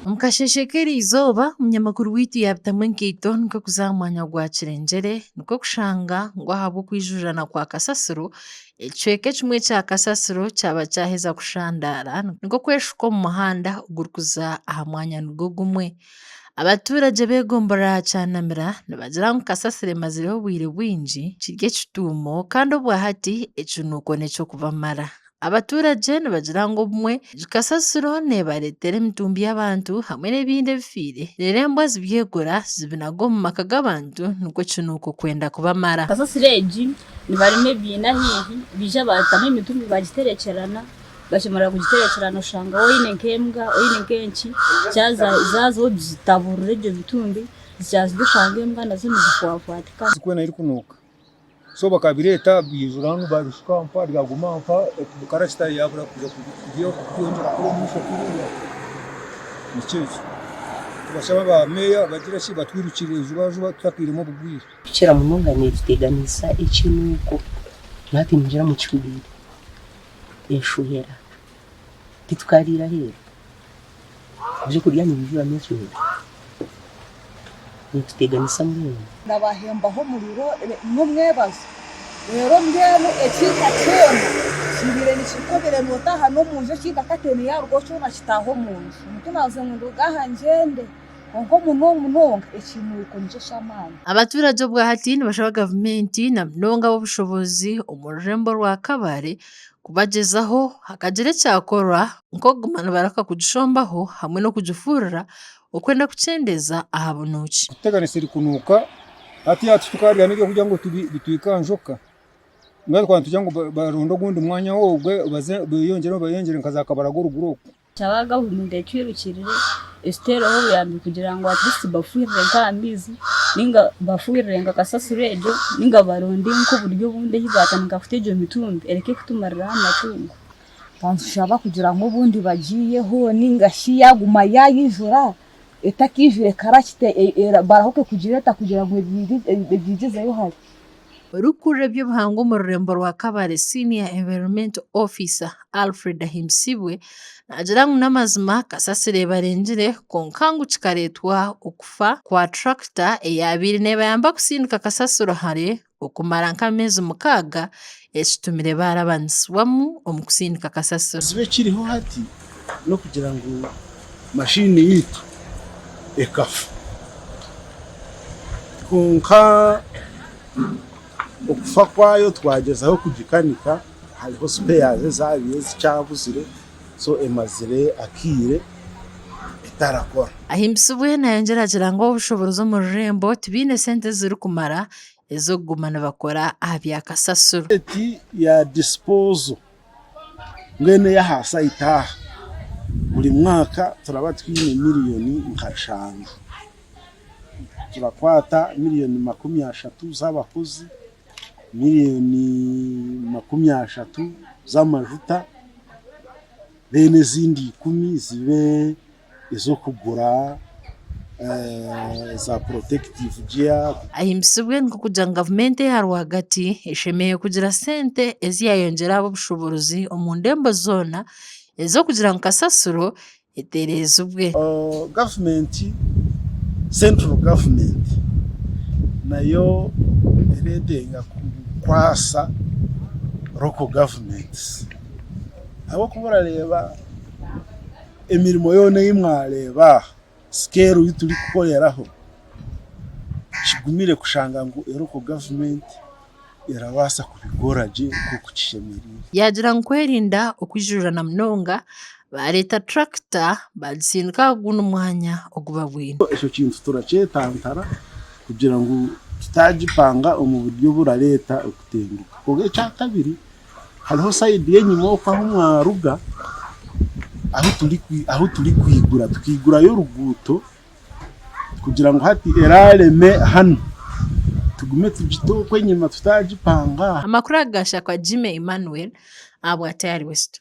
Omu kasheeshe k'erizooba, munyamakuru waitu yaabitamu enkaito nikwo kuza aha mwanya gwa Kirengyere nikwo kushanga ngu ahabw'okwijujana kwa kasasiro, ekicweka ekimwe kya kasasiro kyaba kyaheza kushandaara nikwo kweshuka omu muhanda ogurikuza aha mwanya nigwo gumwe. Abatuuragye b'egombolola ya Kyanamira nibagira ngu kasasiro emazireho obwire bwingi kiri ekituumo kandi obwa hati ekinuuko n'eky'okubamara. Abatuuragye nibagira ngu obumwe egi kasasiro neebareetera emitumbi y'abantu hamwe n'ebindi ebifiire reero embwa zibyegura zibinaga omu maka g'abantu nikwo ekinuuko kwenda kubamara. Kasasiro egi nibarema ebiina haihi baija baatamu emitumbi baagiterekyerana Bashemerera kugiterekera noshanga oyine nka embwa oyine nka enki zaza ogitaburira ebyo bitumbi zikyazirya oshanga embwa nazo nizifwafwatika. Zikwena erikunuka so bakabireta byaizura hanu babishuka aho mpaha byaguma aho mpaha karacsita yabura kuza kweyongera kukora omumaisho kuriya nikyo ekyo tubashaba ba meeya bagire ki batwirukire ijubajuba tutateiremu obugwire. Kukira munonga netuteganisa ekinuko naha twimugyire omu kihuuburo eshohera titukariira aheeru, ebyokurya nibijuramu eshohera nituteganisa mbwenu. Ndabahembaho omuriro n'omwebazo, reero mbwenu ekiika kyona kibaire nikireka obaire nootaaha n'omunju ekiika ka teene yaarugaho kyona kitaaha omunju, omuntu naagira ngu nduga aha ngyende. kwonka omunomu munonga ekiinweko nikyo ky'amaani. Abaturage obwahati nibashaba gavumenti na munonga ab'obushobozi omu rurembo rwa Kabale kubagyezaho hakagira ekyakorwa nk'okuguma nibarahika kugishombaho hamwe n'okugifuurira okwenda kukyendeeza aha bunuuki. Kutegana esiri kunuuka hati hati tukaariiramu ebyokurya ngu bitwike aha njoka mbwenu twaba nitugira ngu baronde ogundi mwanya obwe beyongyere nka za Kabale agu orugura okwo. Kyaba gavumenti etwirukirire etutereho obuyambi kugira ngu at least bafuhirire nka amaizi ninga bafuhirire nka kasasiro egyo ninga baronde nka oburyo obundi eyi batandika kuta egyo mitumbi ereke kutumariraho amatungo. Nitushaba kugira ngu obundi bagyiyeho ninga shi yaguma yayijura etakijura ekarakyita barahuke kugireeta kugira ngu ebyigyezeyo hare. Orikukurira eby'obuhangwa omu rurembo rwa Kabale, Senior Environmental Officer, Alfred Ahimbisibwe, naagira ngu n'amazima kasasiro ebarengire kwonka ngu kikareetwa okufa kwa turakita eyaabaire neebayamba kutsindika kasasiro hare okumara nk'ameezi mukaaga ekitumire baarabanisibwamu omu kutsindika kasasiro. Ekizibu ekiriho hati n'okugira ngu machine yaitu ekafa kwonka okufa kwayo twagyezaho kugikanika hariho spares ezabaire zikyabuzire so emazire akaire etarakora. Ahimbisibwe nayongyera agira ngu obushoboorozi omu rurembo tibaine sente ezirikumara ez'okuguma nibakora aha bya kasasiro. Rate ya disposal mbwenu eyaha saidi aha buri mwaka turaba twine miriyoni nka eshanu turakwata miriyoni makumi ashatu z'abakozi miriyoni makumi ashatu z'amajuta reero ezindi ikumi zibe ez'okugura za porotekitivu giya. Ahimbisibwe nikwo kugira ngu gavumenti eya rwagati eshemereire kugira sente ezi yaayongyera aha b'obushoboorozi omu ndembo zoona ez'okugira ngu kasasiro etereezibwe. Gavumenti, central government, nayo neetenga kukwatsa local governments ahabw'okuba orareeba, Emirimo yoona ei mwareeba aha, scale ei turikukoreraho, kigumire kushanga ngu local government erabaasa kubikora gye nk'oku kishemereire. Yaagira ngu kwerinda okwijurira na munonga, baareeta tractor baagisindika aha gundi mwanya ogu babwine. Ekyo kintu turakyetantara kugira ngu tutaagipanga omu buryo oburareeta okutenguka. Kwonka ekyakabiri, hariho sayidi y'enyima oku ahu mwaruga ahu turikwigura, tukaigurayo oruguuto kugira ngu hati eraareme hanu tugume tugite oku enyima tutaagipanga aha. Amakuru aga gaashakwa Jimmy Emmanuel ahabwa Tayari West.